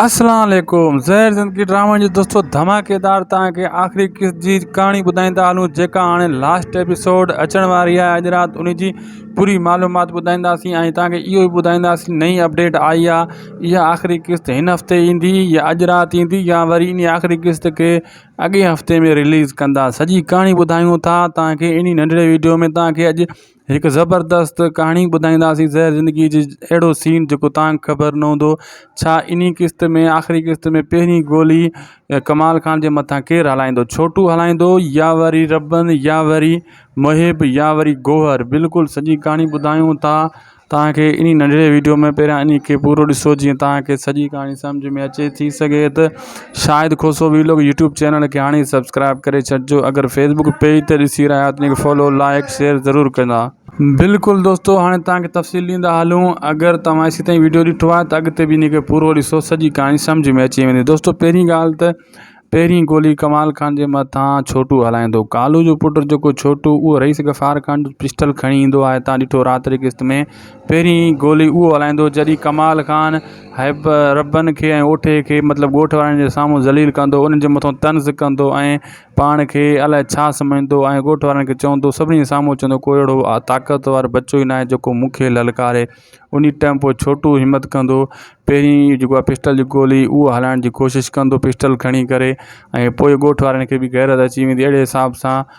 اسلام عليڪم زهر زندگي ڊرامن جو دستو ڌماڪيدار توهان کي آخري قسط جي ڪهاڻي ٻڌائيندا هلون جيڪا هاڻي لاسٽ ايپيسوڊ اچڻ واري آهي اڄ رات ان جي پوري معلومات ٻڌائينداسين ۽ توهان کي اهو به ٻڌائينداسين نئين اپڊيٽ آئي آهي اها آخري قسط هن هفتي ايندي يا اڄ رات ايندي يا وري انهي آخري قسط کي اڳئين هفتي ۾ رليز ڪندا سڄي ڪهاڻي ٻڌايون ٿا توهان کي انهي ننڍڙي ويڊيو ۾ توهان کي اڄ هڪ زبردست ڪهاڻي ٻڌائينداسين زهر زندگيء جي اهڙو سين جيڪو تان خبر نه هوندو ڇا ان ئي قسط ۾ آخري قسط ۾ پهرين گولي ڪمال خان جي مٿان ڪير هلائيندو ڇوٽو هلائيندو يا وري ربن يا وري محب يا وري گوهر بلڪل سڄي ڪهاڻي ٻڌايون ٿا تان کي ان ننڍڙي ويڊيو ۾ پهريان ان کي پورو ڏسو جيئن تان کي سڄي ڪهاڻي سمجهه ۾ اچي ٿي سگهي ته Shahid Khoso vlog YouTube channel کي هاڻي ئي سبسڪرائب ڪري ڇڏجو اگر فيسبڪ پيج تي ڏسي رهيا آهيو ته ان کي فالو لائڪ شيئر ضرور ڪندا. بلڪل دوستو هاڻي توهان کي تفصيل ڏيندا هلون اگر توهان ايسي تائين وڊيو ڏٺو آهي ته اڳتي به ان کي پورو ڏسو سڄي ڪهاڻي سمجهه ۾ اچي ويندي دوستو پهرين ڳالهه ته پهرين گولي ڪمال خان جي مٿان ڇوٽو هلائيندو ڪالو جو پٽ جيڪو ڇوٽو اهو رئيس غفار خان جو پسٽل کڻي ايندو آهي توهان ڏٺو رات جي قسط ۾ پهرين گولي اهو هلائيندو جڏهن ڪمال خان هيب ربن کي ۽ اوٺي کي مطلب ڳوٺ وارن جي سامهون ذليل ڪندو انهن جي مٿان طنز ڪندو ۽ پاڻ کي الائي ڇا سمجهندو ۽ ڳوٺ وارن کي چوندو سڀني جي سامهون چوندو ڪو اهڙو طاقتور بچو ئي ناهي جيڪو مون کي للڪاري انهي ٽئم پوء ڇوٽو همت ڪندو پهرين جيڪو آهي پسٽل جي گولي اهو هلائڻ جي ڪوشش ڪندو پسٽل کڻي ڪري ۽ پوء ڳوٺ وارن کي به غيرت اچي ويندي اهڙي حساب سان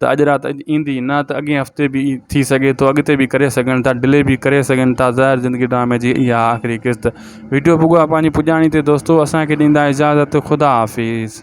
ته اڄ رات ايندي نه ته اڳئين هفتي به ٿي سگهي ٿو اڳتي به ڪري سگهن ٿا ڊلي به ڪري سگهن ٿا زهر زندگي ڊرامي جي اها آهي آخري قسط ويڊيو پڳو آهي پنهنجي پڄاڻي تي دوستو اسان کي ڏيندا اجازت خدا حافظ